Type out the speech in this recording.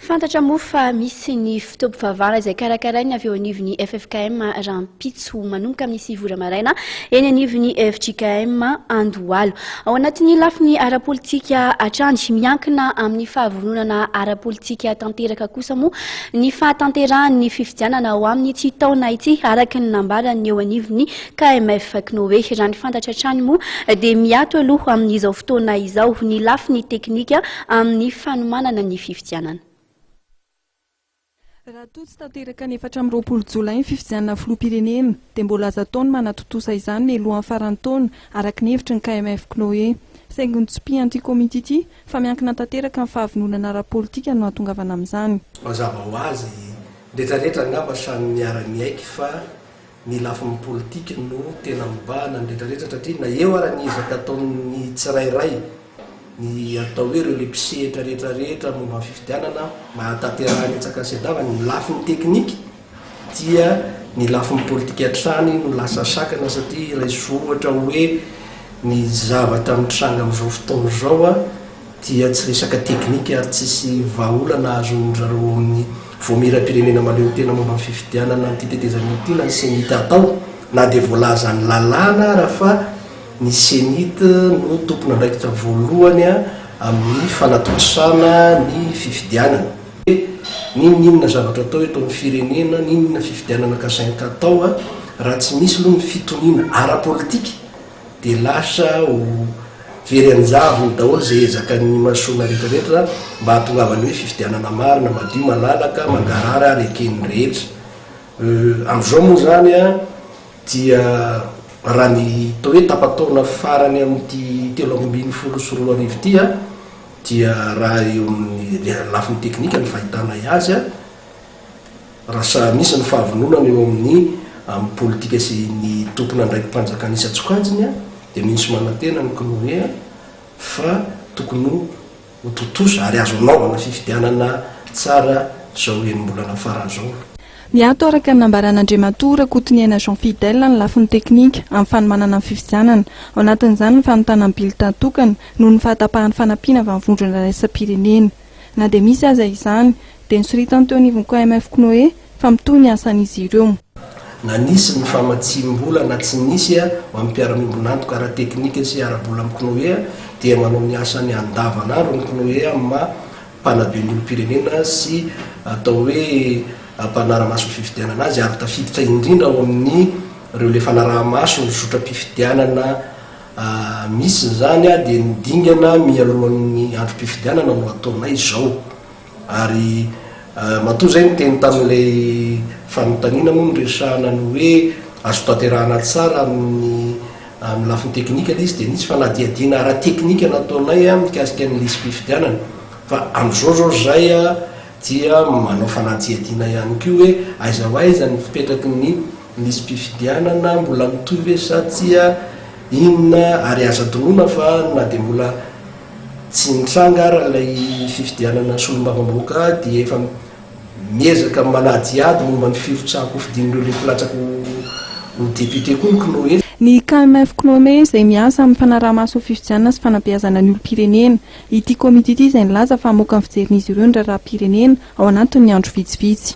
Fantatra moa fa misy ny fotoam-pivavahana izay karakarain'ny avy eo anivon'ny ffkm rahampitso manomboka amin'ny sivy ora maraina eny anivon'ny fjkm Andohalo. Ao anatin'ny lafiny ara-politika hatrany, miankina amin'ny fahavononana ara-politika tanteraka kosa moa ny fahatanterahan'ny fifidianana ao amin'ity taona ity, araka ny nambaran'ny eo anivon'ny KMF Cnoe. Raha ny fantatra hatrany moa dia miato aloha amin'izao fotoana izao ny lafiny teknika, amin'ny fanomanana ny fifidianana. Raha toa tsy tanteraka ny efatra amby roapolo jolay ny fifidianana filoham-pirenena, dia mbola azo atao ny manatontosa izany mialohan'ny faran'ny taona, araka ny hevitry ny KMF Cnoe. Saingy notsipihan'ity komity ity fa miankina tanteraka amin'ny fahavononana ara-politika no hahatongavana amin'izany. Mazava ho azy, retraretra angamba samy miara-miaiky fa Ny lafiny politika no tena mibahana ny rehetra rehetra satria na eo ary ny ezaka ataon'ny tsirairay, ny atao hoe ireo le mpisehitra rehetra rehetra momba ny fifidianana mba hahatanterahana hetsaka ny Cedaw, ny lafiny teknika dia ny lafiny politika hatrany no lasa sakana satria raiso ohatra hoe ny zavatra mitranga amin'izao fotoana izao a, dia tsy resaka teknika ary tsisy vahaolana azon-dry zareo ao amin'ny Vaomieram-pirenena mahaleotena momba ny fifidianana an'ity tetezamita ity na ny Cenit atao na dia voalaza ny lalàna ara fa ny Cenit no tompon'andraikitra voalohany amin'ny fanatontosana ny fifidianana. N'inon'inona zavatra atao eto amin'ny firenena, n'inon'inona fifidianana kasainka atao, raha tsy misy aloha ny fitoniana ara-politika Dia lasa ho very an-javony daholo izay ezaka ny masoivohona rehetra rehetra mba hahatongavan'ny hoe fifidianana marina, madio, malalaka, mangarahara ary eken'ny rehetra. Euh, amin'izao moa izany an, dia raha ny atao hoe tapa-taona farany amin'ity telo amby ambin'ny folo sy roa arivo ity an, dia raha eo amin'ny lafiny teknika ny fahitànay azy an, Raha sahanisy ny fahavononana eo amin'ny amin'ny politika sy ny tompon'andraiki-panjakana isan-tsokajiny dia mino sy manantena ny CNOE fa tokony ho tontosa ary azo anaovana fifidianana tsara izao enim-bolana farany izao. Miato araka ny nambaran'Andriamatoa Rakotoniaina Jean Fidèle ny lafiny teknika amin'ny fanomanana ny fifidianana, ao anatin'izany ny fanontana ny billetins tokana noho ny fahatapahan'ny fanampiana avy amin'ny vondrona iraisam-pirenena. Na dia misy aza izany, dia nosoritany teo anivon'ny KMF K'noe fa mitohy ny asany izy ireo. Na nisy ny famatsiam-bola na tsy nisy ho an'ny mpiara-miombon'antoka ara-teknika sy ara-bola amin'ny K'noe, dia manao ny asany andavan'andro ny K'noe amin'ny maha mpanabe ny olom-pirenena sy atao hoe mpanara-maso ny fifidianana azy ary tafiditra indrindra ao amin'ireo le fanaraha-maso ny zotram-pifidianana Misy izany dia ny dingana mialohan'ny androm-pifidianana no ataonay izao ary matoa izay niteny tamin'ilay fanontaniana moa niresahana ny hoe azo tanterahana tsara amin'ny amin'ny lafiny teknika ilay izy dia nisy fanadihadiana ara-teknika nataonay mikasika ny lisi-pifidianana fa amin'izao izao izay dia manao fanadihadiana ihany koa hoe aiza ho aiza ny fipetraky ny Misy mpifidianana mbola mitohy ve sa tsia inona ary aza adinoina fa na dia mbola tsy nitranga ara ilay fifidianana solombavambahoaka dia efa miezaka manadihady momba ny firotsahan-kofidin'ireo lefy latsaka ho député koa ny Cnoe. Ny KMF Cnoe izay miasa amin'ny fanaraha-maso ny fifidianana sy fanabeazana ny olom-pirenena. Ity komity ity izay nilaza fa hamoaka ny fijerin'izy ireo ny raharaham-pirenena ao anatin'ny andro vitsivitsy.